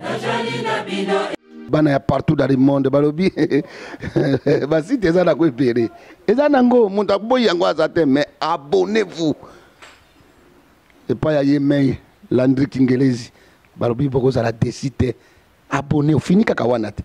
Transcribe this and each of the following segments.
Najali na bino. bana ya partout dans le monde balobi basite eza na ko ebele eza nango moto aboyi yango aza te mais abonnez vous epai ya ye mei landri kingelezi balobi bokozala desi te abonnez fini kaka wana te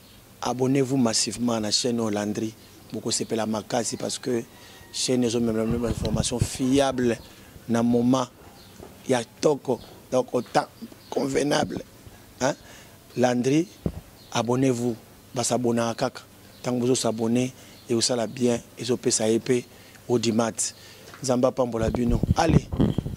Abonnez vous massivement na chaine oyo Landry bokosepela makasi parce que chaine ezo memela bino ba information fiable na moment ya toko donc au temps convenable hein? Landry abonnez vous basabonaka kaka ntango bozo s'abonner ekosala bien ezopesa ye mpe audimat nzambe apambola bino allez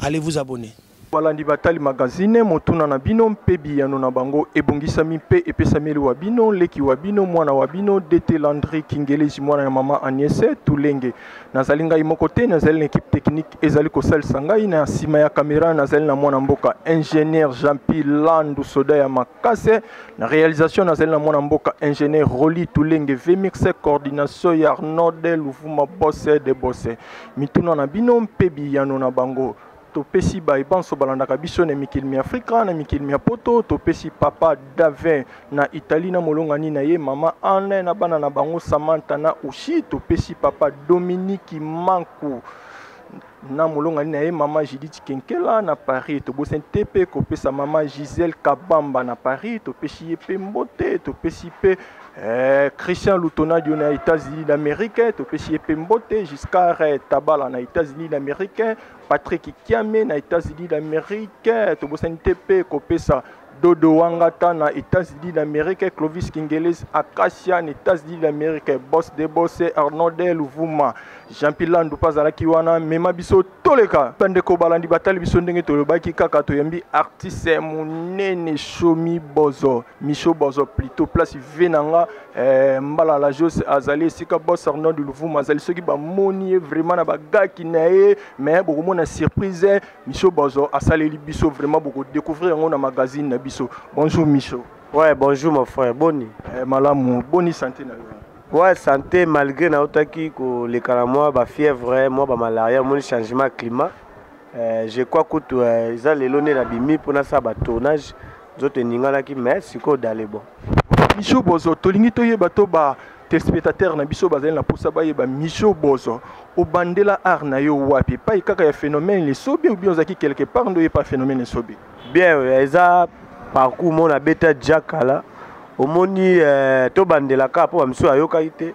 allez vous abonner Balandi batali magazine, motuna na bino mpe biyano na bango ebongisami mpe epesameli wa bino, leki wa bino, mwana wa bino, DT Landry Kingeleji, mwana ya mama Agnese Tulenge. Nazali ngai moko te, nazali na ekipe technique ezali kosalisa ngai. Na nsima ya kamera, nazali na mwana mboka ingénieur Jean-Pi Landu, soda ya makase. Na realisation, nazali na mwana mboka ingénieur Roli Tulenge Vemix, coordination ya Arnold Luvuma Bosse de Bosse. Mituna na bino mpe biyano na bango. topesi baye banso balandaka biso na mikili mya afrika na mikili mya poto topesi papa davin na italie na molongani na ye mama anne na bana na bango samantha na ushi topesi papa dominiki manku na molongani na ye mama judith kenkela na paris tobosani te mpe kopesa mama gisele kabamba na paris topesi ye mpe mbote topesi mpe eh, christian lutonadio na états-unis d'amérique topesi ye mpe mbote giscard tabala na états-unis d'amérique Patrick Kiame na États-Unis d'Amérique tobosani te mpe kopesa Dodo Wangata na États-Unis d'Amérique, Clovis Kingeles Acacia na États-Unis d'Amérique, Boss de Boss Arnold Luvuma, Jean-Pierre Landu azalaki wana mema biso toleka. Bandeko balandi batali biso ndenge tolobaki kaka toyambi artiste monene Shomi Bozo. Michaud Bozo plutôt place vie na nga eh, mbala la jose azali esika boss Arnaud de Luvuma azali soki bamoni ye vraiment na bagaki na ye mais bokomona surprise Michaud Bozo asaleli biso vraiment bokodécouvrir yango na magazine na biso bonjour Michaud ouais bonjour mon frère boni eh, malamu boni santé na yo ouais santé malgré nautaki koleka na mwa bafièvre mwa bamalaria omoni changement ya climat euh, je crois kutu euh, eza lelo nde nabimi mpo nasala batournage nzoto eninganaki mais sikoyo dale bon mijo bozo tolingi toyeba to ba telespectateur na biso bazali na mposa bayeba mijo bozo obandela art na yo wapi epai kaka ya phénomène lesobe obi ozalaki quelque part nde oyepa phénomène lesobe bien oyo eza parcours mo na beta jakala omoni eh, tobandelaka mpo bamisusu ayokaki te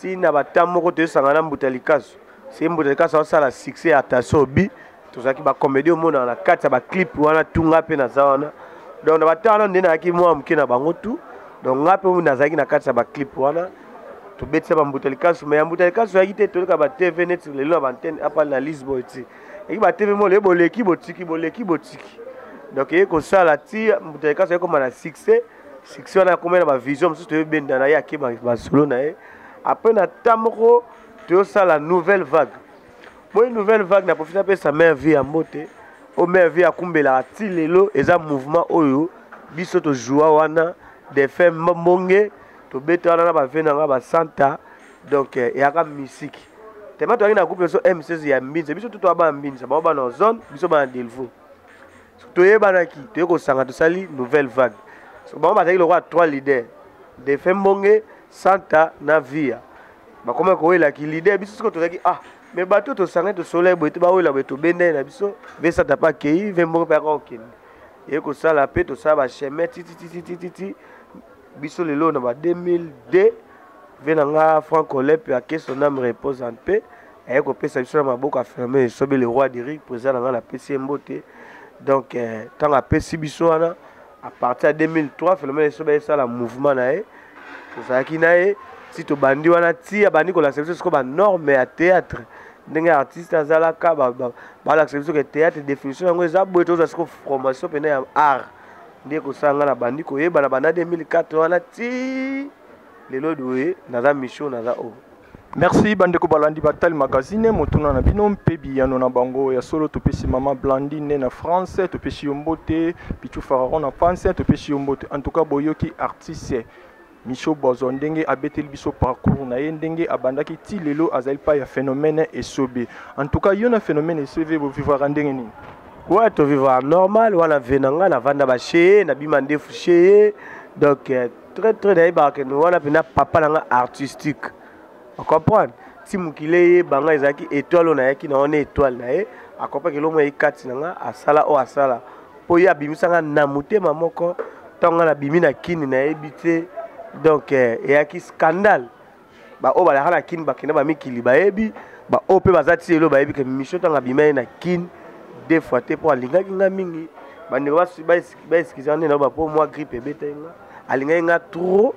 ti na bata moko toyosangana mbuta likasu se mbuta likasu asala succès ya taso obi tozalaki bacomédie omonaka na kati ya baclipe wana tu ngai mpe naza wana donc na bata wana nde nayaki mwa moke na bango tu donc ngai mpe nazalaki na kati ya baclipe wana tobetisa bambuta likasu mai ya mbuta likasu oyaki te toleka batv neti lelo na baantene apale na lisboy ti eki batv mo leye boleki botiki boleki botiki donc eye kosala ti mbuta likasu ayekoma na succès succès wana akomai na bavision mosusu toyobenda na ye ake basolo na ye après na temps moko toyosala nouvelle vague moi nouvelle vague na profite apesa mare vie ya mbote oyo mare vie akumbelaka ti lelo eza mouvement oyo biso tojoua wana defunt mbonge tobeta wana na bave na nga basanta donc eh, eyaka misiki tema toyaki na groupe biso m16 ya mbinza biso tutu abana mbinza bango bana zone biso bana delvaux toyebanaki toye kosanga tosali nouvelle vague bango bazalaki lokola trois leader defunt mbonge santa na via bakomaki kowelaki leader biso soko tozalaki ah me bato tosangani tosolai boye te bawela boye tobendai na biso ve santa mpe akei ve mbonge mpe akaka kokende eye kosala mpe tosala bachemin titititititi biso lelo na ba 2002 ve na nga franco lepe ake son ame repose en paix aye kopesa biso na maboko aferme esobe le roi deric président na nga napesi ye mbote donc ntango eh, apesi biso wana à partir ya 2003 phénomène esobe ayesala mouvement na ye tozalaki na ye ti tobandi wana ti abandi kolakisa biso sikoyo banorme ya théâtre ndenge artiste azalaka balakisa biso ke théâtre définition yango eza boye tozwa sikoyo formation mpena ya art nde kosala ngai nabandi koyebana banda 2004 wana ti lelo doye naza mission naza o oh. merci bandeko balandi batali magazine motuna na bino mpe biyano na bango ya solo topesi mama blandine na france topesi yo mbote pichu fararon na france topesi yo mbote en tout cas boyoki artiste Micho Bozo ndenge abeteli biso parcours na ye ndenge abandaki ti lelo azali pa ya phénomène esobe. En tout cas yo na phénomène esobe bo vivaka ndenge nini? Ouais to vivaka normal wana vie na nga na vanda ba chez na bima ndefu chez donc euh, très très nayebaka ke wana pena papa na nga artistique. O comprendre? Ti mokili eyeba nga ezalaki étoile oyo nayaki na wana étoile na ye akopa kelongo ye kati na nga asala oyo asala. mpo ye abimisa nga na motema moko ntango nga nabimi na kini nayebi te donc eh, eyaki scandale baoyo balaka na kini bakenda bamikili bayebi baoyo mpe baza ti lelo bayebi ke misio ntango abima ye na kini deux fois te mpo alingaki nga mingi bandeko baeskizaka nde na bapo mwa grippe ebetaki nga alingaki nga trop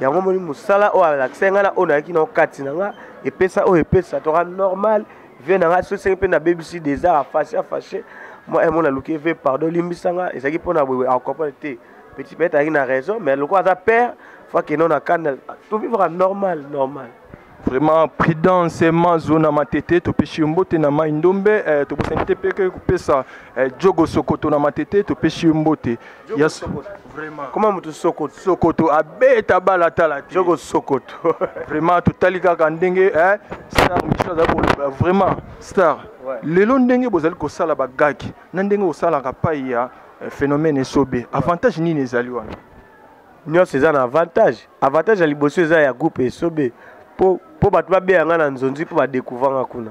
yango omoni mosala oyo alakisaki ngai na oyo nayaki na okati na nga epesa oyo epesa toka normal vie na ngai sosenge mpe nabebisi desar afashe afashe moi emo naluki ve pardon olimbisa nga ezalaki mpo na wewe acomprendre te petit peut-être azalaki na raison mais lokola aza père fois keno na kanda tovivaka normal normal vraiment prudence mazo na matete topesi yo mbote na mai ndombe eh, tobosani te mpe kopesa eh, jogo sokoto na matete topesi yo mbote Yes. Vraiment. Comment mutu sokoto? Sokoto abeta bala tala te. Joko sokoto. vraiment totali kaka ndenge eh star Michel aza koloba vraiment star. Ouais. Lelo ndenge bozali kosala ba gag na ndenge osalaka pai ya eh, phénomène esobe. Avantage nini ezali wana? Nyonso eza na avantage. Avantage ya liboso eza ya groupe esobe po po bato babeya nga na nzonzi po ba découvrir nga kuna.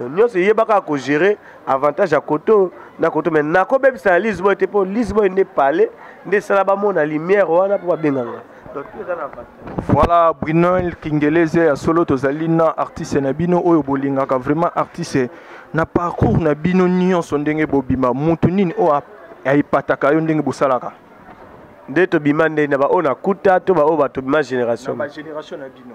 donc nyonso eyeba kaka kogere avantage ya koto na koto mai nakobebisa na lisboy te mpo lisboy nde pale nde esala bamona lumière wana mpo babenganga donc tout eza na avantage voilà brunel kingeleze ya solo tozali na artiste na bino oyo bolingaka vraiment artiste na parcours na bino nyonso ndenge bobima motu nini oyo aepataka yo ndenge bosalaka nde tobima nde na baoyo nakuta to baoyo batobima génération na bino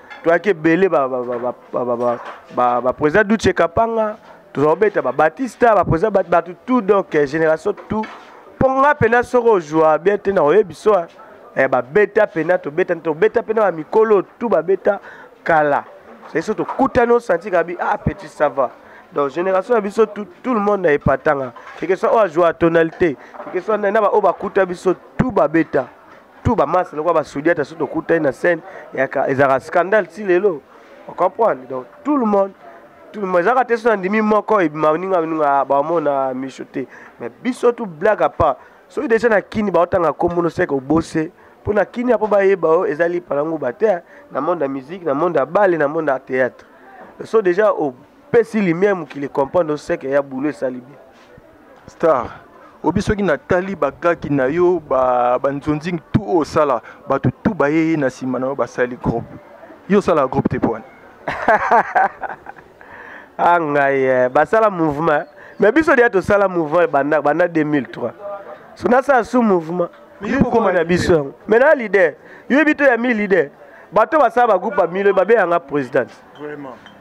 toyaki ebele baprésident duce kapanga tozala kobeta babatista baprésident bato tout donc eh, génération tout mpo nga mpena soki ozwa bien te na oyebi so eh, babeta mpena tobeta tobeta mpena bamikolo tu babeta kala soki so tokutani osanti kabi ah petit ça va donc génération na biso tout, tout le monde na epatanga keke soit oyo azwa tonalité keke soit na baoyo bakuta biso tout babeta tout ba masse lokola ba sodiata soki tokutani na scène ezalaka scandale ti lelo ocomprendre donc tout le monde tout le monde ezalaka te so nandimi moko ebima ninga ninga bamona miso te mais biso tout blague à part soki deja na kini baotanga kombo noseke obose mpo na kini apo bayeba oyo eza lipala nguba te na monde ya musique na monde ya bale na monde ya théâtre so deja opesi lumière mokili comprendre oseke ya boulot esali bien star obi soki natali bagaki na yo banzonzingi tu oyo osala bato tu bayeye na nsima na yo basali groupe yo osala groupe te pwana a ah, ngai eh, basala mouvement mais biso deya tosala mouvement banda banda 2003 so nasala sous mouvement yokokoma na biso yango mai na leader yoyebi to ya mi leader bato basala bagroupe ya milo babeyanga présidente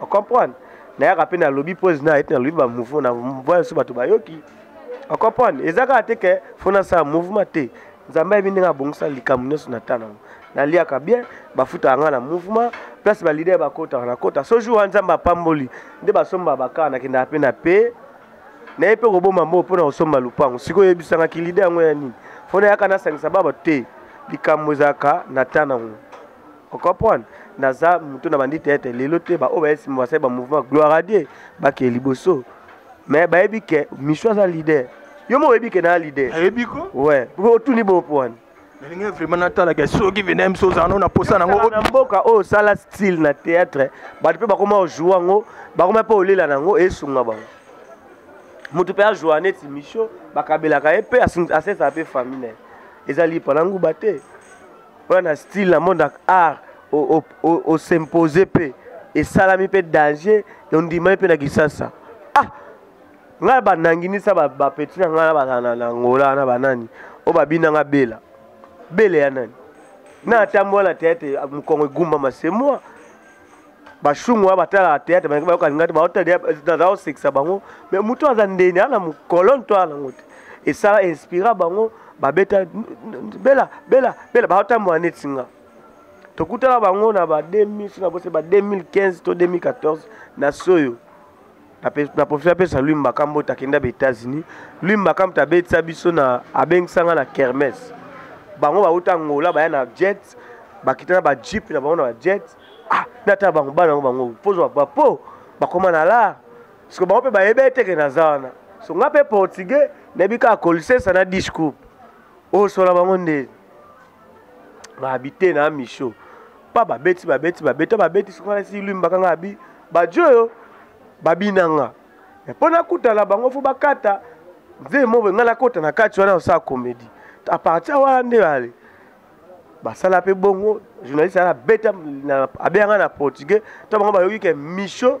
ocomprendre nayaka mpe nalobi pose na ete nalobi bamouvement na voya biso bato bayoki ocomprendre eza kaka te ke fo nasala mouvement te nzambe ayebi ndenge abongisa likambo nyonso na ntan nango naliaka bien bafutaka ngai na mouvement place balider bakotaka nakota so jour wana nzambe apamboli nde basomba bakar nakendaka mpe na pe naye mpe koboma mbongo mpo na kosomba lopango sikoyo oyebisangaki lider yango ya nini fo nayaka nasangisa ba bato te likambo ezalaka na ntan nango okomprendre naza moto na bandi teatre lelo te baoyo baye nsima basali bamouvement gloire a dieu bakee liboso mais bayebi ke misu aza leader yo mo oyebi ke naa leader ayebi ko we otuni bopo wana nalingi vraiment natalaka soki vena biso ozala no na posa nango na mboka oyo osala style na théâtre bato mpe bakoma ojoue yango bakoma mpe olela na yango esunga bango moto mpe ajoua neti misio bakabelaka ye mpe asesaka mpe famille na ye ezali pana nguba te oya na style na monde art os'impose mpe esalami mpe danger ondimami mpe na kisasa ah ngai bananginisa bapeti na ngai na bazala na angola na banani oyo babina ngai bela bela ya nani na atambola na teyate mokongo egumbama se moi bashungu oyo batalaka théâtre balingi bayoka linga te baotazala kosekisa bango mais motu aza ndeni ana mokolone to ana yango te esala inspira bango babeta bela bela bela baotambola neti nga tokutana bango na ba 2000 na bose ba 2015 to 2014 na soyo na profite apesa lui mbaka mbote akenda ba états-unis lui mbaka mbote abetisa biso na abengisa nga na kermes bango bauta angola baya na jet bakita na bajeep na bango na bajet ah natala bango bana yango bango pozwa bapo bakoma na lar siko bango mpe bayebi eteke naza wana so nga mpe portugais nayebi kaka kolisesa na discours osola bango nde ba habite na micho pa babeti babeti babeta babeti soki ngai nasi lwimbaka ngai abi badio oyo babina nga me mpo nakutana bango fo bakata nzee moboye ngai nakota na kati wana osala komedi a partir wana nde bale basala mpe bongo journaliste ana abeta abeyanga na portugais to bango bayoki ke micho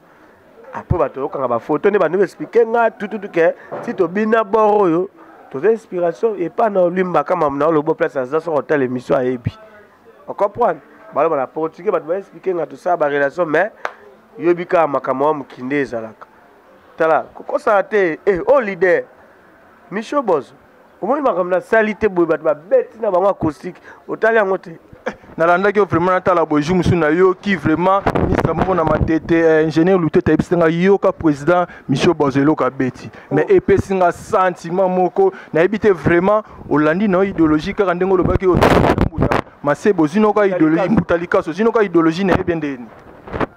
après bato oyokaka bafoto nde bando explike nga tututu ke ti tobina bor oyo toza inspiration epa na olimbaka mamu na olobo place aza soki otala émission ayebi ocomprendre baloba na portugais bato baexplike nga tosala barelation mais yoyebi kaka makambo ya mokinde ezalaka tala kokosana te e eh, o oh, leader micho bozo omoni makambo nasali te boye bato babeti na bango acoustique otali yango te eh, nalandaki yo vraiment natala boye jour mosusu nayoki vraiment ministre moko na matete eh, ingénieur lutete ayebisi nga yoka président michel bazo eloko abeti mais oh. epesi nga sentiment moko nayebi te vraiment olandi na yo idéologie kaka ndenge olobaki otambuta masebo ozinoka idéologie mbuta likaso ozinoka idéologie na ye bendeni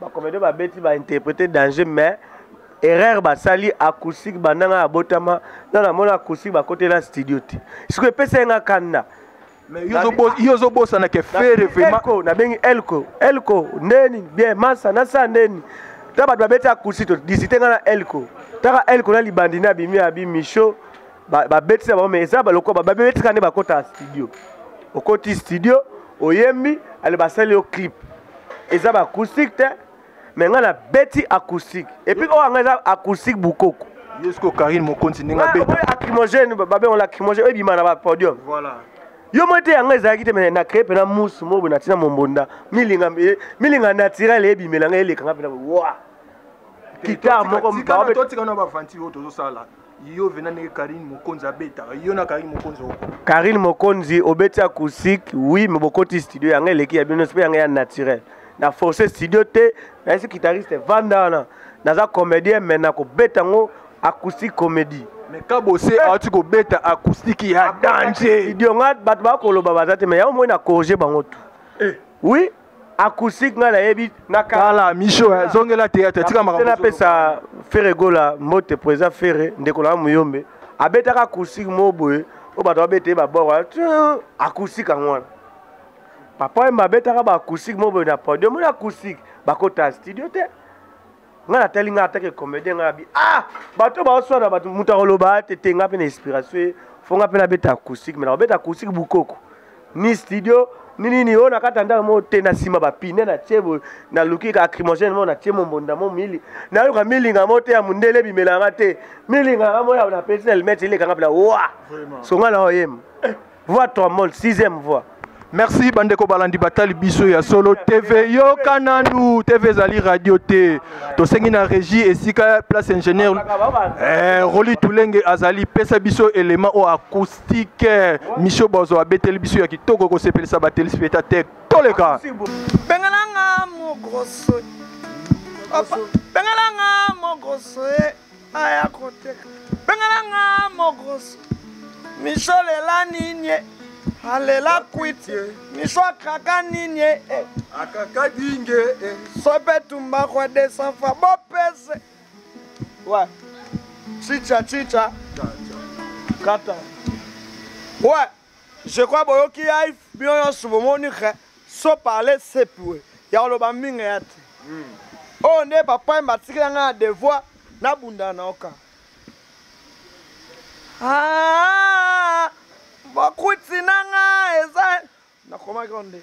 bakomede babeti bainterprete danger mais erreur basali acoustique banda ngai abotama na namona acoustique bakotela studio te siko epesa ye ngai kanna yo ozobosana ke fere vraimentko nabengi elko elko ndeni bien masa nasa ndeni ta bato babeti acoustique todisite ngai na elko taka elko na libandi na abimi abi micho babetisa bango mais eza balokoba babetika nde bakota studio okoti studio oyembi ale basali yo clip eza ba acoustique te me ngai nabeti acoustique epuis oyo yango eza acoustique bukoko yesko karine mokonzi ndenge abetacrimogène babengo lacrimogène ebima na bapodium yo moi te yango ezalaki te me na cree mpena musu moko boye natina mombonda milinga eh, naturel ebimela ngai elekanga mpena wa kitare moko yo vena ndenge karine mokonzi abetaka yo na karine mokonzi oko karine mokonzi obeti acoustique oui me bokoti studio yanga eleki ya bino mpe yanga ya naturel na force studio te nayesi guitariste vanda wana naza comédien me nakobeta yango acoustique comédie mais kabose eh. awati kobeta acoustique ya danger studio nga bato bakoloba baza te me yango moi na corrige bango tu eh. oui acoustique ngai nayebi nakala misho eh, zongela théâtre tika makambo napesa ferre gola mbote po eza ferre ndeko na muyombe abetaka acoustique moko boye oyo bato babeta ye baboko acoustique yango wana papa yemba abetaka baacoustique moko boye na podium oyo acoustique bakota studio te nga natali nga atake comédien nga nabi ah bato baoswana bato moto akoloba te te nga mpe na inspiration ye fo nga mpe nabeta acoustique me nakobeta acoustique bukoko ni studio ni nini oyo nakata ndako moko te na nsima bapine natie boye naluki ka acrimogène moko natie mombonda mo mili nayoka milinga moko te ya mondele ebimela yanga te milinga nga moyo napesi na limete elekanga mpena wa songa na oyema voix trombone sixième voix merci bandeko balandi batali biso ya solo tv yoka nanu tv ezali radio te tosengi na régie esika place ingénieur eh, roli tulenge azali pesa biso élément oyo acoustique misio bozo abeteli biso ya kitoko ekosepelisa batelespectateur toleka bengalanga mogroso bengalanga mogroso aya koteka bengana nga mokoso miso lela ninie alela kwiti miso akaka ninie eh. akaka dinge eh. sope tumba kwa desanfa bopese wa chicha chicha kata wa Je crois boyoki ya bino nyonso bomoni ke so parle sepiwe ya koloba mingi ya te hmm. oyo nde papa yemba atikela ngai na devoir nabunda na oka ah, bokuti na ngai eza nakomaki oyo nde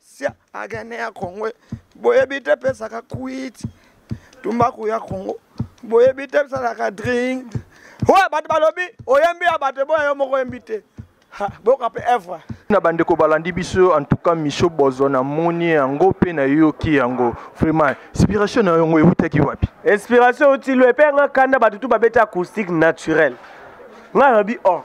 sia agane ya kongo boyebi te pesaka kwiti tumbaku ya kongo boyebi te bisalaka drink oyo bato balobi oyembi ya bato eboya yo moko oyembi te boyoka mpe evre na bandeko balandi biso en tout cas miso bozo namoni yango mpe nayoki yango vraiment inspiration na yango ewutaki wapi inspiration euti lo epai yanga kanda bato tu babeti acoustique naturel ngai nalobi or oh,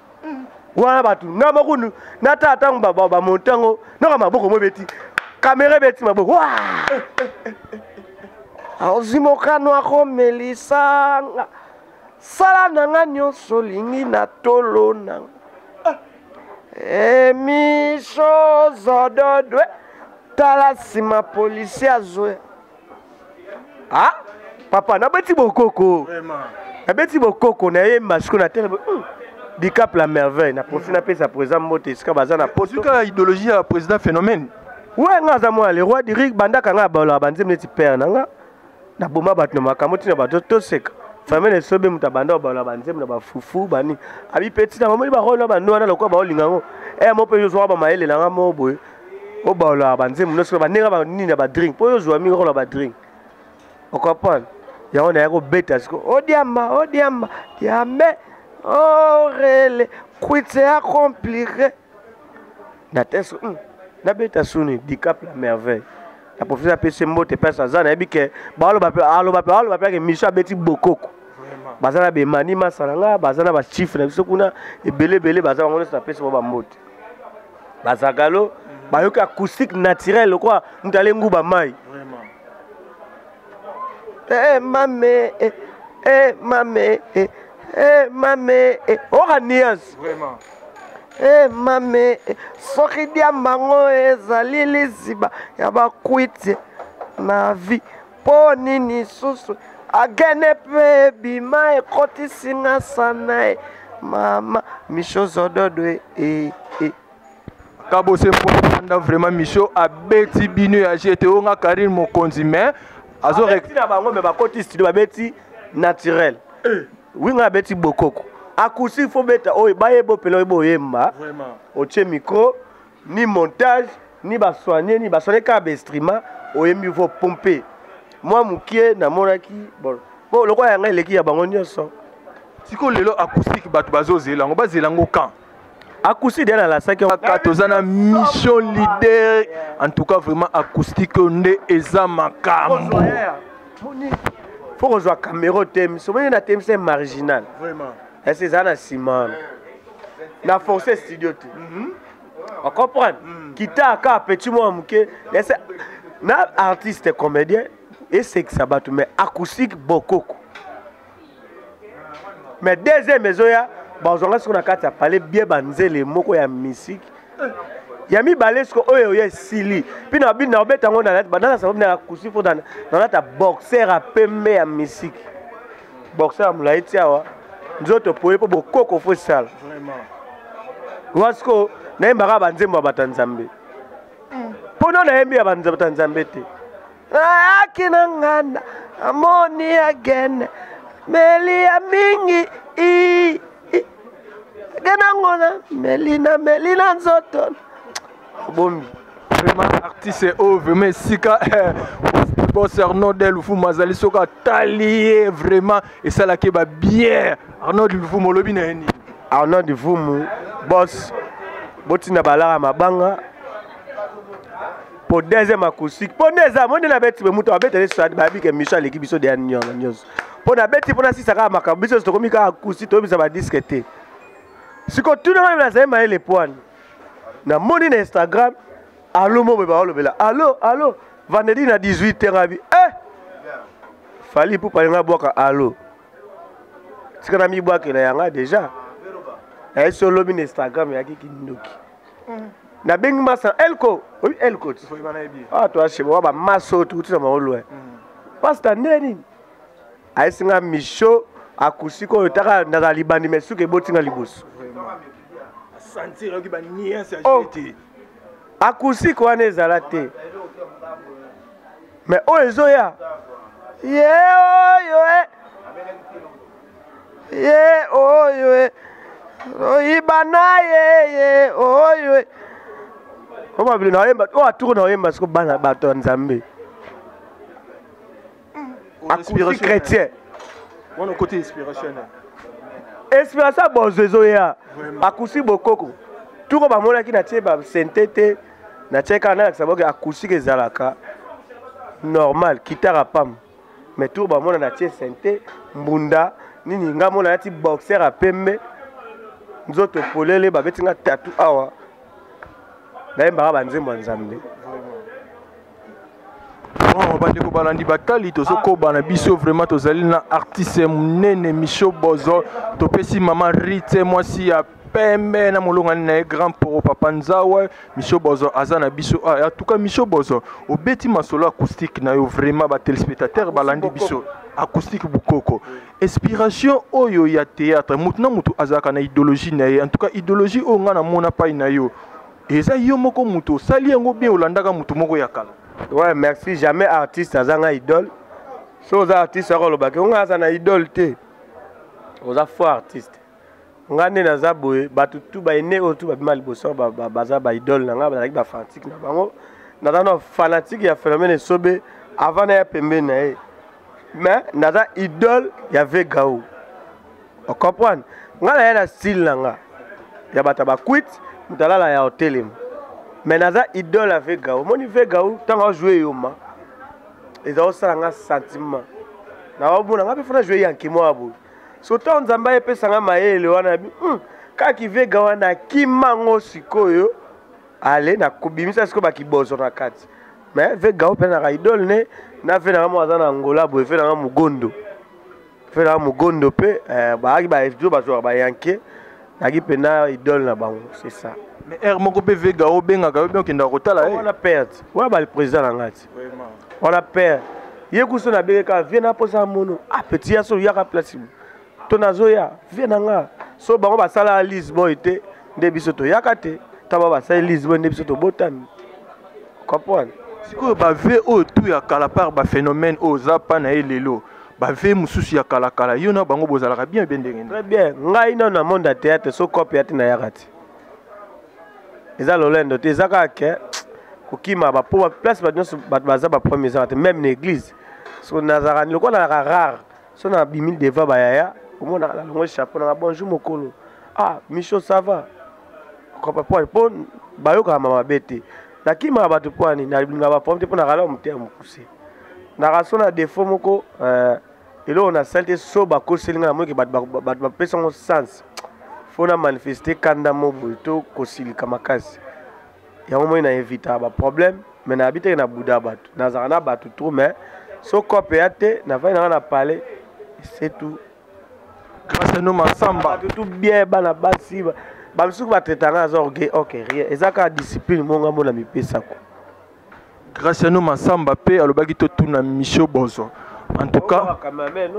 wana bato nga moko natala ntango bamonte yango noka maboko mo ebeti kamera ebeti maboko wa ozwi mokano akomelisanga sala na nga nyonso olingi na tolo nanga emisho zododwe tala nsima polisi azoya ah papa nabeti bokoko nabeti bokoko nayemba siko na telema hmm. dicap la merveille na profi napesa présent mbote esika baza na potoka idéologie ya président phénomène we nga aza mwana le roi du rig bandaka nga abalaka banzembe neti père na nga naboma bato na makambo ntina bato toseka famille esobe moto abanda obalola banzembo na bafufu bani abi mpe ntina bamoni barole na bano wana lokola baolinga yango eye eh, mo mpe yozwaka bamayelela nga mo boye oyo baolaka banzembo nyonso bandenge banini ya badrink mpo oyo ozwa mingi okola badrink okomprendre yango naya kobeta siko odiamba oh, odiamba oh, diambe orele oh, kwitse ya compliqué na tese hmm, nabeta suni dicap la merveille na professeur apesi mbote mpasi aza nayebi ke baaloba mpe aloba mpe aloba mpe ake miso abeti bokoko baza na bemani masala nga baza na bachiffre na biso kuna ebele ebele baza bango nyonso napesi bango bambote bazagalo mhm. bayoki acoustique naturel lokola moto ale nguba mai eh, eh, mame eh, eh, mame eh, eh, mame eh, oka nuance e mame soki diambango ezali liziba ya bakwiti na vie mpo nini susu agene mpe bima ekotisi nga sana e mama misho zododo e, e, e. kabose mpoanda vraiment misho abeti bino ya jete oyo nga karine mokonzi mais azoreti na bango me bakoti studio babeti naturel eh. winga abeti bokoko akusi fo beta oyo baye bopela oyo boyemba otie micro ni montage ni basoigne ni basoigne kaka baestrima oyembi vo pompe mwa mokie namonaki bon mpo lokola yanga eleki ya bango nyonso sikoyo lelo acoustique bato bazozela yango bazela yango kan acoustique deya nalasaki kaka toza na mission leader en tout cas vraiment acoustique oyo nde eza makambo fo kozwa camero te miso moni na temisa marginal vraiment ese eza na nsima wana na force studio te mhm. ocomprendre mhm. kita aka petit mwa moke ese na artiste comédien esekisa bato mais acoustique bokoko mais deuxième ezoya bazwanga soko na kati ya pale bie banzele moko ya misiki eh. ya mibale siko oyo oyo esili mpe na bino nakobeta yango na lati banana sababu na akusi mpo na lata boxer ya pembe ya misiki boxeur ya molai ti awa nzoto poye mpo bokoko fo sala wa sikoyo nayembaka banzembo ya bato ya nzambe mpo no nayembi ya bato ya nzambe te ayaki na nganda amoni ya gene meli ya mingi ii gena ngona meli na meli na nzoto bombi vraiment artiste oyo vraiment esika boss arnold lufuma azali soki atali ye vraiment esalaki ba bien arnold lufuma olobi na ye nini arnold lufuma boss botinda balaka mabanga po deuxième acoustique po nde eza moni nabeti be moto abeta nde sadi bayebi ke miso aleki biso deya nyonso nyonso mpo nabeti mpo nasisa kaka makambo biso tokomi kaka acoustique toyebisa badiske te siko tuna ngai nazali mayele pwani Na moni na Instagram allo mobo ba olobela. Allo allo vendredi na 18h abi. Eh! Fali pour parler na boka allo. Tika na mi boka na yanga déjà. Na yeso lobi na Instagram ya kiki ndoki. Mm. Na bengi masa elko. Oui elko. Ah toi chez moi ba maso tout ça ma olwe. Mm. Pasta ndeni. ayesi nga misho akusi koyo taka ndaka libandi me suka eboti nga liboso oh, akusi ko wana ezala te me oyo ezoya ye oyo e ye oyo e oyiba na ye ye oyo e oyo mabilo na oyemba oyo aturu na oyemba siko bana bato ya nzambe akufi chrétien wana okoti inspiration inspiration ya bozo ezoya akusi bokoko tuko bamonaki natie basente te natie kaka nalakisa boke akusiki ezalaka normal kitara pam mais tuko bamona natie sente mbunda nini nga mona nati boxer ya pembe nzoto polele babeti nga tatu awa nayembaka banzembo ya nzambe vraiment bandeko balandi bakali tozokoba na biso vraiment tozali na artiste monene micho bozo topesi mama rite mwasi ya pembe na molongani na ye grand poro papa nzawa micho bozo aza na biso ah, en tout cas micho bozo obeti masolo acoustique na yo vraiment batelespectateur balandi biso acoustique bukoko inspiration oyo ya théâtre mutu na mutu azalaka na idéologie na ye en tout cas idéologie oyo ngai namona pai na yo eza yo moko mutu osali yango bien olandaka mutu moko ya kala ouais merci jamais artiste aza ngai idole so oza artiste akolobaki ongai aza na idole te oza faux artiste nga nde naza boye bato tu baine oyo tu babima liboso baza baidole na nga bazalaki bafanatique na bango naza na fanatique ya phénomène esobe avant naya pembeni na ye mais naza idole ya vegao ocomprendre nga naya na style na nga ya bato ya bakwite moto alala ya otelema mais naza idole ya vegao omoni vegao ntango ajoue yoma eza osala nga sentiment na omona nga mpe fona joue yanke mwa boye soto nzambe ayepesa nga mayele wana bi hmm, kaki vega wana akima ngo sikoyo ale nakobimisa sikoyo bakibozo na kati me vega ope naka idole ne na ve nanga moko aza na angola boye ve nanga mogondo ve nanga mogondo mpe eh, baaki baejo bazwaka bayanke naki mpe na idole na bango c'est ça mais heure moko mpe vega obengaka yo mpe okendaka kotala ye wana perte wana bali président na ngai te wana père ye kuso na bele ka vie na posa mono a ah, petit ya so yaka place mo to nazo ya vie na nga so bango basala lise boy te nde biso to yaka te ta ba basala lise boy nde biso to botami comprendre sikoyo ba vie oyo tout ya kala par ba phénomène oyo za pa na ye lelo bave mosusu ya kalakala yo na bango bozalaka bien mpe ndenge très bien ngai nano na monde ya théâtre so cope ya te nayaka te eza lolendo te eza kaka ke kokima bapo place bato nyonso bato baza baproblème ezaka te même na église so nazalaka lokola nalaka rare so na bimi devant bayaya omonaka na longo chapeau nanga bonjour mokolo ah micho ça va kopapwani mpo bayokaka ma mabe te nakimaka bato pwani nalingaka baproblème te mpo nakala motema mokuse nakasona defaut moko euh, eloko na sali te so bakoseli ngai namoyeke bato bapesa yango sens mpo na manifeste kanda mo boye to kosilika makasi yango moi na evita baproblème mai nayabi teke na buda bato nazalaka na bato trop mai so cope ya te nafai nanga na palais esetu grâce à nous masamba bato tout bien bana basi bamisuku batraitanga aza orgueil ok rien eza kaka discipline monga mona mipesako Graciano Massamba pe alobaki totuna Michio Bozo en tout cas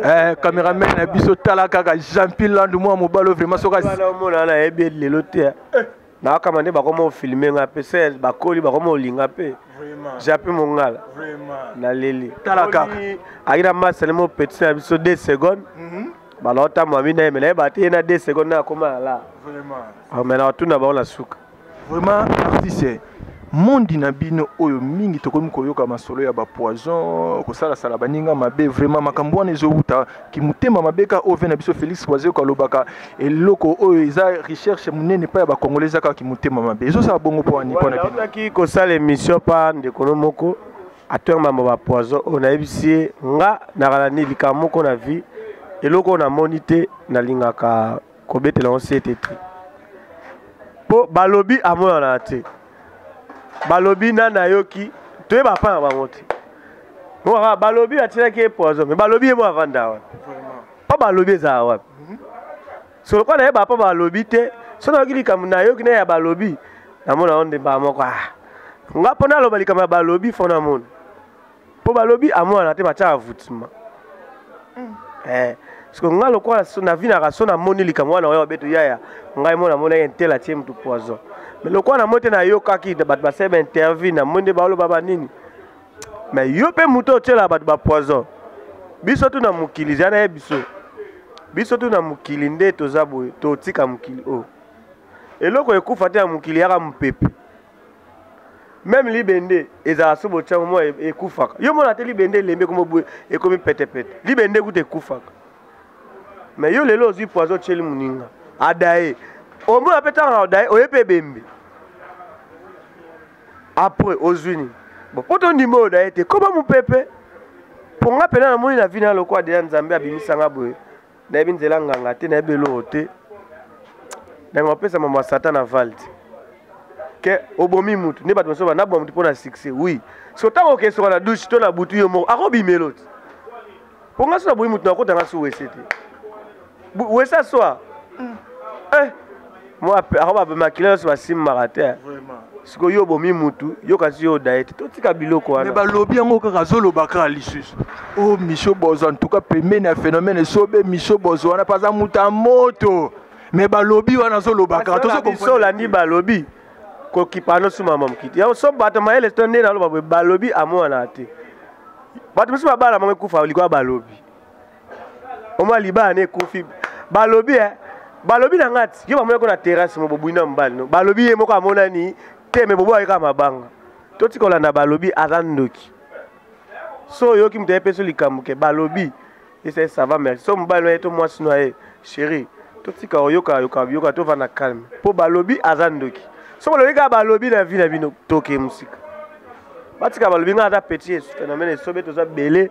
eh, cameraman na biso tala kaka jampi landu mwa mobalo vraiment sokaomona nayebi lelo te eh. eh. nakama nde bakoma ofilme nga mpe se bakoli bakoma olinga mpe japi mongala naleli tala kaka ayaki na masale mo petit na biso 2 seconde mhm. balaotambwa mina ye me nayeba te ye na 2 seconde nakoma ala me na batuna bango na suka vraiment artiste mondi na bino oyo mingi tokomi koyoka masolo ya bapoison kosalasala baninga mabe vraiment makambo wana ezowuta kimotema mabe ka ove na biso félix wazeko alobaka eloko oyo eza recherche monene epai ya bacongolais eza kaka kimotema mabe ezosala bongo mpo ani mpo na binoaki kosala émission pa ndekolo moko atwenge mambo bapoison oyo nayebisi ye nga nakalani likambo moko na vie eloko oyo namoni te nalingaka kobetela yango sete te mpo balobi amonana te balobi nani ayoki toyeba mpa na bango te mokaka balobi batyelaki ye poison me balobi ye mo avanda wapi mpo balobi ezala wapi mhm. so lokola nayeba mpo balobi te so nayoki likambo nayoki na ya balobi namona yango nde mbala moko ah nga mpo naloba likambo ya balobi fo namona mpo balobi amwana te batyaka voutement mm. eh. siko ngai lokola navinaka so namoni likambo wana oyo babeto yaya ngai mo namonaki intele atie motu poison mais lokola namoni te nayokaki bato basali bainterview namoni nde baoloba banini mais yo mpe moto otyelaka bato bapoison biso tu na mokili zya naye biso biso tu na mokili nde toza boye totika mokili oyo oh. eloko ekufa te ya mokili yaka mopepe meme libende ezala so botiango mwa e, ekufaka yo mona te libende elembe ekomi ekomi petepete libende kuta ekufaka me yo lelo ozwi poison otyeli moninga adaye omona mpe ntango na adaye oye mpe ebembe apres ozwi nini bon mpo tondima oyo daye te koba mopepe mpo nga mpena namoni na vi na lokola deya nzambe abimisa nga boye nayebi nzela nganga te nayebi eloko te nanga opesa mama satana valde ke obomi mutu nde bato mosusu banaboma mutu mpo na succès oui so ntango okesoka na dushe to na butu yo moko akobimelo te mpo nga so naboyi mutu nakotanga so wese te wese aswa mm. eh. ako babmakila nyonso basimbaka te sikoyo yo obomi mutu yo kasi yo odaye te totika biloko wana balobi yango kaka azoloba kaka lisusu o oh, misio bozo antuka pembeni ya phénomène esobe misio bozo wana mpe aza moto ya moto me balobi wana azoloba kaka tozobiso olandi balobi kokipa nosuma mamokiti yango so bato mayele to nde naloba boye balobi amonana te bato mosusu babala moko ekufa likoya balobi omwa libala na ekufi balobi eh, balobi na ngai ti yo bamonaki na terrasse mo bobwina mobali no balobi ye moko amonani te me bobo ayika mabanga totika olanda balobi aza ndoki so oyoki moto ayepesi likambo ke balobi ese sava merci so mobali na ye to mwasi na ye chéri totika oyoka yoka yoka tovanda calme mpo balobi aza ndoki so balobi kaka balobi na vi na bino toke mosika batika balobi ngai aza petit phénomène esobe toza bele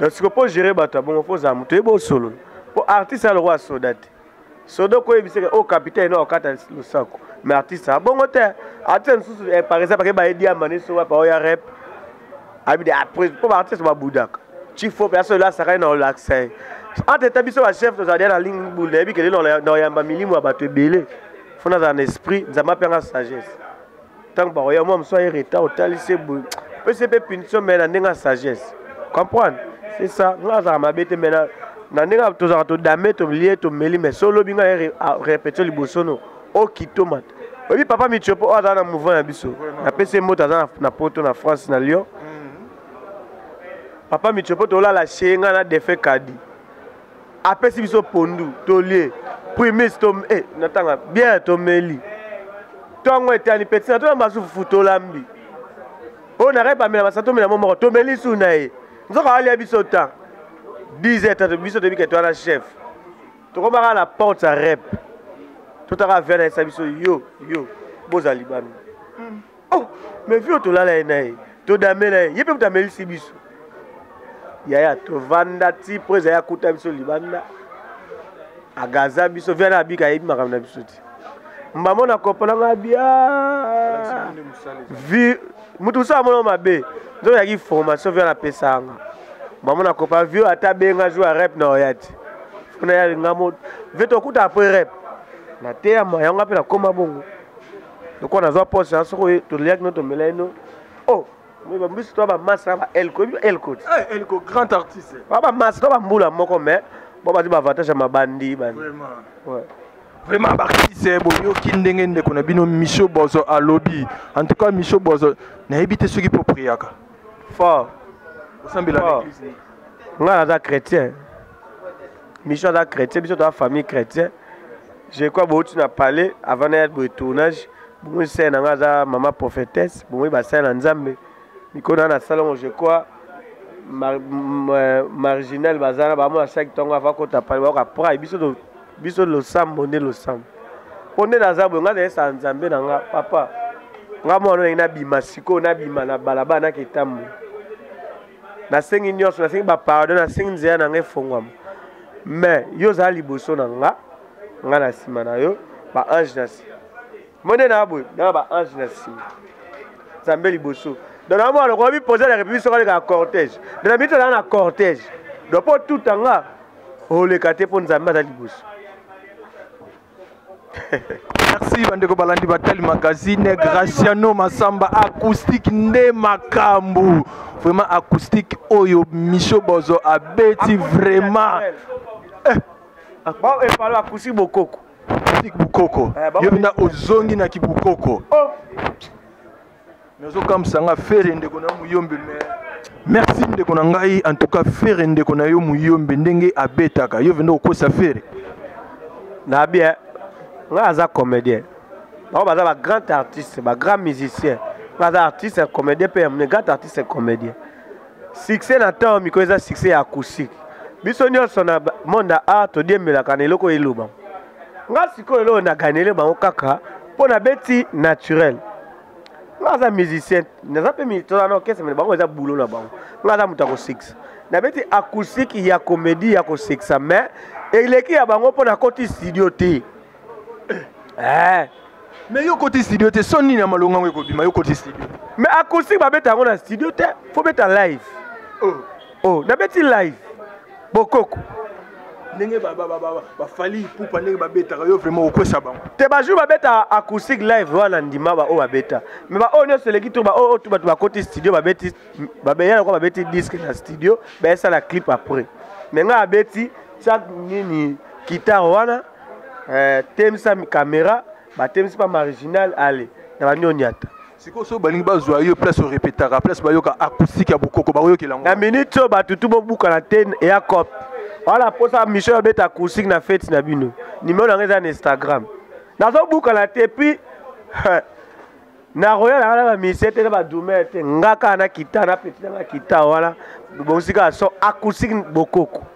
donc siko mpo gere bato ya bongo mpo ozala moto oyebi osolo mpo artiste aloko ya soda te soda okoyebiseke o oh, capitaine no okata losako me artiste abongo te artiste mosusu eh, par exemple akeba edi amane so wapa oya rep abide ah, mpo baartiste babudaka chifo mpe asolela asakani na olakisa ye ante ta biso bachef tozala deya na lingi bunda yebi kende na oyamba milimo ya bato ebele mpo nazala na esprit nzambe ape yanga sagesse ntango bakoya mwa mosusu aye retard otali se boye pese mpe punition mai na ndenge ya sagesse comprendre c'est ça nga azalaka mabe te mai na ndenge tozalaka todame tolie tomeli mai so olobi ngai repetio liboso no okitomata oyebi papa mitio mpo oyo azala na mouvement ya biso napesi mbote aza na poto na france na lyon mm. papa mitio mpo tolala shee ngai na defe kadi apesi biso pondu tolie primis to eh, natanga biere tomeli ntongo etani peti na tona basufufu tolambi oyo nakai pamela basa tomela mo moko tomeli su na ye nzoka alia biso temps 10 heures tatu biso toyebi kete wana chef tokomaka na porte ya rep totaka via na yesa biso yo yo bozali bami mm. oh mais fio tolala ye naye todamela ye ye mpe moto amelisi biso yaya tovanda ti mpo ezali akuta biso libanda agaza biso viana abika ayebi makambo na biso te mbamo na kopo na ngai bia vi moto mosusu amonao mabe nzoki yaki formation viana apesa yanga mbamo na kopa vio ata benga jour ya rep na oya te mpona ya linga mo ve tokuta apres rep nateyama yango mpe nakoma bongo lokola nazwa poste na soko toliaki no tomelai no oh bambisi to bamasa na baelko ebi elko ti eh, elko grand artiste ba bamasa to bambula moko mais bo bazwi baavantage ya mabandi bani vraiment baartiste boyoki ndenge ndeko na bino micho bozo alobi en tout cas micho bozo nayebi te soki mpo priaka fort osambela ngai naza chrétien mission aza chrétien biso toza famille chrétien je crois bouti na palais avant naya boye tournage bomoi sere na ngai aza mama prophétesse bomoi basere na nzambe mikolo na nasala yango je crois euh, marginal baza na bamona saki ntongo ava kota pale bayoka prai biso biso losambo nde losambo mpo nde naza boye ngai nayesala nzambe na ngai papa ngai mwana oyo nabima sikoyo nabima na balabala naketambola nasengi nyonso nasengi bapardon nasengi nzela na ngai efongwama mais yo ozala liboso na nga nga na nsima na yo baange na nsima mone na boye na baange na nsima nzambe liboso donc na mwana okomi posa na république soki alekaka cortège donc na mito naa na cortège donc mpo tuta nga oleka te mpo nzambe aza liboso merci bandeko balandi batali magazine graciano masamba acoustique nde makambu vraiment acoustique oyo micho bozo abeti vraiment eh. bao epalo akusi bokoko acoustique bokoko eh, yo mpenza ozongi na kibokoko oh. nazokamwisa nga fere ndeko na yo moyombe me merci ndeko na ngai en tout cas fere ndeko na yo moyombe ndenge abetaka yo vende okosa fere na bien ngai aza comédien bango baza ba grand artiste ba grand musicien ngai aza artiste comédien mpe yamne grand artiste comédien succès na ntango mikolo eza succès ya acoustique biso nyonso na monde ya art todiembelaka na eloko eloba nga sikoyo eloo na ganele bango kaka mpo na beti naturel nga aza musicien naza mpe mitola na orchestre mene bango eza boulot na bango nga aza moto ya kosekisa na beti acoustique ya comédie ya kosekisa mais eleki ya bango mpo nakoti studio te eh. mais yo okoti studio te so nini ya malonga yango ekobima yo okoti studio mais acoustique babeta yango na studio te fo beta live oh. oh nabeti live bokoko ndenge bafali ipupa ndenge babetaka yo vraiment okwesa bango te bajour babeta acoustique live wana ndima baoyo babeta me baoyo nyonso eleki tour baoyo oyo bato bakoti studio babeti babeya lokola babeti disque na studio bayesala clip après me ngai abeti sak nini kitare wana eh, temisa kamera batemisi mpa marginal ale na banio nyata sikoyo soki balingi bazwa yo place orepetaka place bayoka acoustique ya bokoko bakoyokela yango na minute oyo bato tu bobukana te eya cop wana mposa mission ya beta acoustique na fete na bino nimero yango eza na instagram nazobukana te puis nakoya nanga na bamisie te na badume te nga kaka na kita na peti nanga kita wana bosika so acoustique bokoko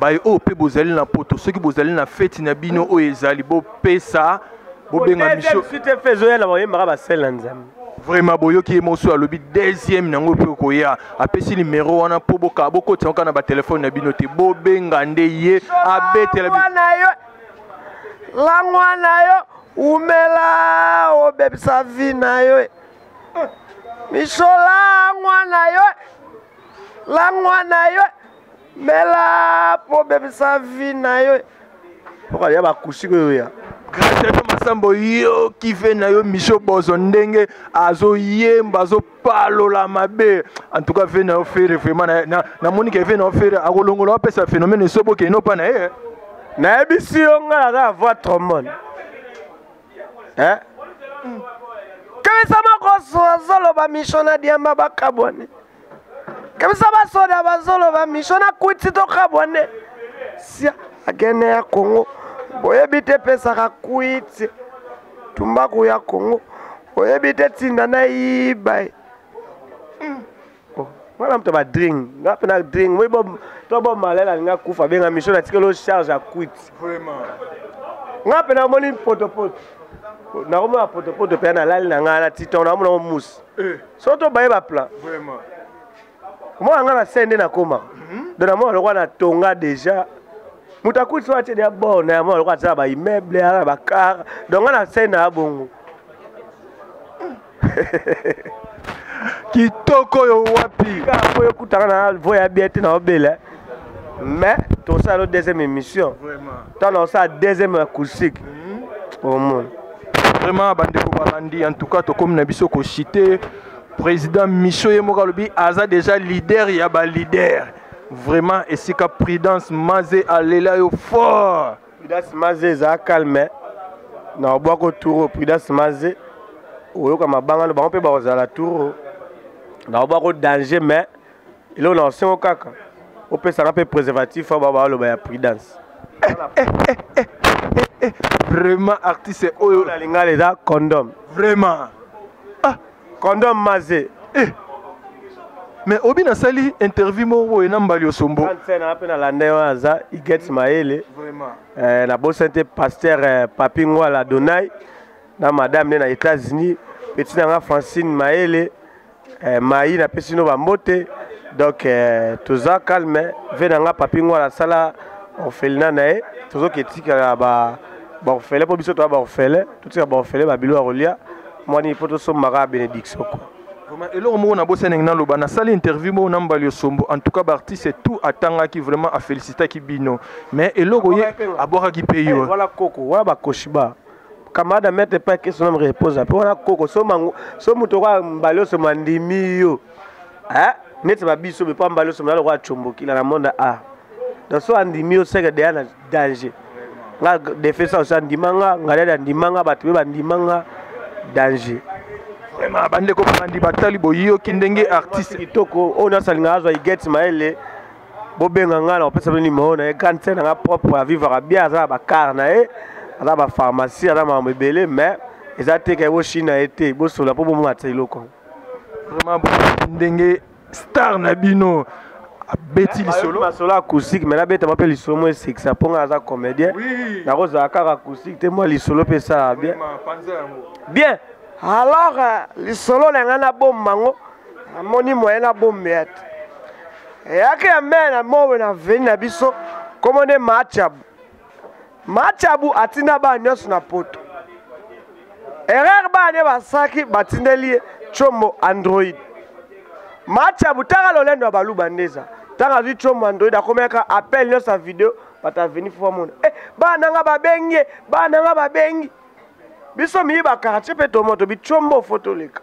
baye oyo mpe bozali na poto soki bozali na feti na bino oyo ezali bopesa bobenga biso ezoyela bayembaka basele na nzambe vraiment boyoki ye mosusu alobi deuxième nango mpe okoya apesi nimero wana mpo bokaa bokotisa kaka na batelefone na bino te bobenga nde ye abetela langwa na yo umela obebisa vi na yo miso langwa na yo langwa na yo mela mpo obebisa vi na yo oka ya bakusi oyo ya graciano masambo yo kive na yo michel bozo ndenge azoyemba azopalola mabe en tout cas ve na yo fere vraiment namoni ke ve na yo fere akolongola apesa phénomène esoboke eno mpa na ye nayebisi yo ngai naza ya voi trombone eh? kebisa makoso azoloba michel na diamba bakabwani kebisa basoda bazoloba misho na kwiti tokabwa nde sia agene ya kongo boyebi te epesaka kwiti tumbaku ya kongo oyebi te tinda na yiba ye hmm. oh, mwana moto badring nga mpe na dring moi to bomalele alingi akufa benga misho natikeli o charge ya kwiti nga mpe namoni potopoto nakomona potopoto mpe nalali na ngai na titon nakomona o musi eh. so tobaye baplan omona nga na se nde nakoma mhm. don namona lokwa na tonga déjà moto akuti so atie deya bor na yamona lokwa aza na baimmeuble aza na bacar don nga na se na ya bongo kitoko oyo wapi po yokutaka na voya bia te na obele mais tosala deuxième émission Vraiment. tala osala deuxième acoustique omona vraiment bandeko babandi en tout cas tokomi na biso kochite président micho ye moko alobi aza déjà leader ya baleader vraiment esika prudence maze alela yo fort prudence maze eza calme na obwako tour prudence maze oyoka mabanga no bango mpe bakozala tour na obwako danger mais eloko na osengo kaka opesaka mpe préservatif oyo babaloba ya prudence vraiment artiste oyo na lingala eza condom vraiment ah. condom maze eh. mais obi nasali interview moko boye na mbali osombo na mpe nalanda ye wana aza iget mayele eh, nabosani te paster eh, papi ngwala donai na madame nde na états-unis peti na nga francine mayele eh, mayi napesi bino bambote donc eh, toza calme ve na nga papi ngwala asala orphelina na ye tozoki etikala ba baorfele mpo biso toya baorfele totika baorfele babilo ya kolia mwani mpo tosombaka benediction kua Vraiment, eloko moko nabosa ndenge naloba nasali interview moko na mbali osombo en tout cas baartiste tout atangaki vraiment afélicitaki bino mais eloko ye abwakaki mpe yo eh, wana koko wana bakoshiba camarade ya maître epai ke sonome reposa mpe wana koko so mango so moto okoya mbala nyonso mandimi yo eh, neti babiso bepa mbala nyonso mona lokola combokila na monde a donc so andimi yo seke deya na danger nga defesa osi andima nga ngaleli andima nga bato mpe bandima nga danger vraiment bandeko bandi batali boyoki ndenge artiste kitoko oyo nasalinga azwa igete mayele bobenga ngai na kopesa bino nimero na ye grande sœur na ngai propre avivaka bien aza na bacare na ye aza na bapharmacie aza na makambo ebele mais eza te kai boshini na ye te bosola mpo bomona te eloko vraiment ndenge star na bino abeti eh, lisolo masolo acoustique mai nabeta mwa mpe lisolo mwa esekisa mpo ngai aza comédien nakozala kaka acoustique te mwa lisolo mpe esalaka bien bien alors euh, lisolo na ngai nabomba yango namoni moyen na bombe ya te eyaki ya mbele na mowe na veni na biso nkombo nde machabu machabu atinda bana nyonso na poto erreur bana nde basalaki batindeli ye combo android machabu tanga lolendo ya baluba nde eza ntango azwi combo android akomeka appel nyonso ya video bato aveni fo bamona e eh, bana na nga babengi ye bana na nga babengi biso miyi bakartie mpe tomoto bicombo fo toleka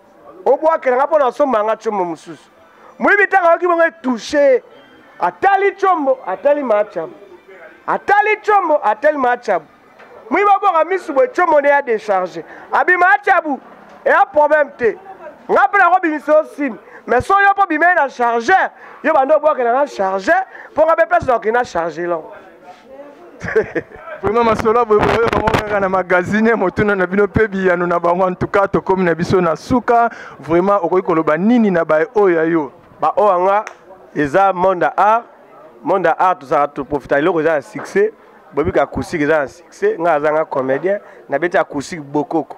obwakelaka mpo na osomba nga combo mosusu moyibi ntango ayoki bongo etouche atali combo atali maacabu atali combo atali maacabu moyibi abwaka misu boye combo nde ya decharge abima acabu eya problème te nga mpe nakobimisa yo simi mais so yo mpo bimei na chargeur yo banda obwakelanga chargeur mpo nga mpe place nakokenda charge lango vraiment masolo boye boye bango kaka na magazine motuna na bino mpe biyano na bango antuka tokomi na biso na suka vraiment okoki koloba nini na baye oyo ya yo baoyo yanga eza monde ya art monde ya art tozalaka toprofita eloko eza na succès boyebi ka acoustique eza na succès ngai azanga comédien nabeti acoustique bokoko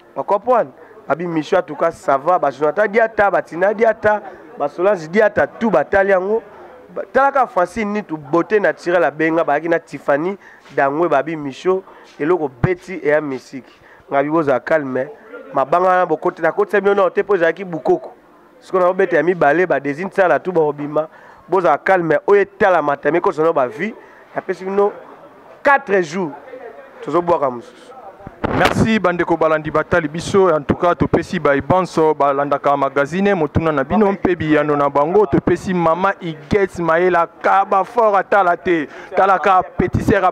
Ba comprendre? Ba bi mission en tout cas ça va ba Jonathan Diata, ba Tina Diata, ba Solange Diata tout ba tali yango. Talaka Francine ni tout beauté naturelle abenga ba na Tiffany Dangwe ba bi mission eloko beti et ya musique. Ngabi boza calme. Mabanga na bokote na kote bino na hotel po ezalaki bukoko. sikoyo na obeta ya mibale ba design sala tu bakobima bozala calme oyo etalama tami ekosa no bavie napesi bino 4 jours tozobwaka mosusu merci bandeko balandi batali biso en tout cas topesi baye banso balandaka magazine motuna na bino mpe biyano na bango topesi mama igets mayela kaba fort atala te talaka petiser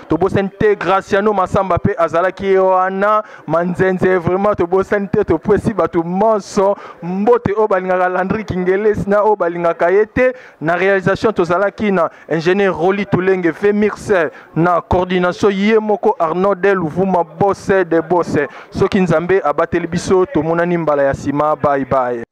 tobosani te graciano masamba mpe azalaki ye wana manzenze vraiment tobosani te topesi bato manso mbote oyo balingaka landri kingelesi na oyo balingaka ye te na réalisation tozalaki na ingénieur roli tulenge femirse na coordination ye moko arnaud de luvuma bose de bose soki nzambe abateli biso tomonani mbala ya nsima bye bye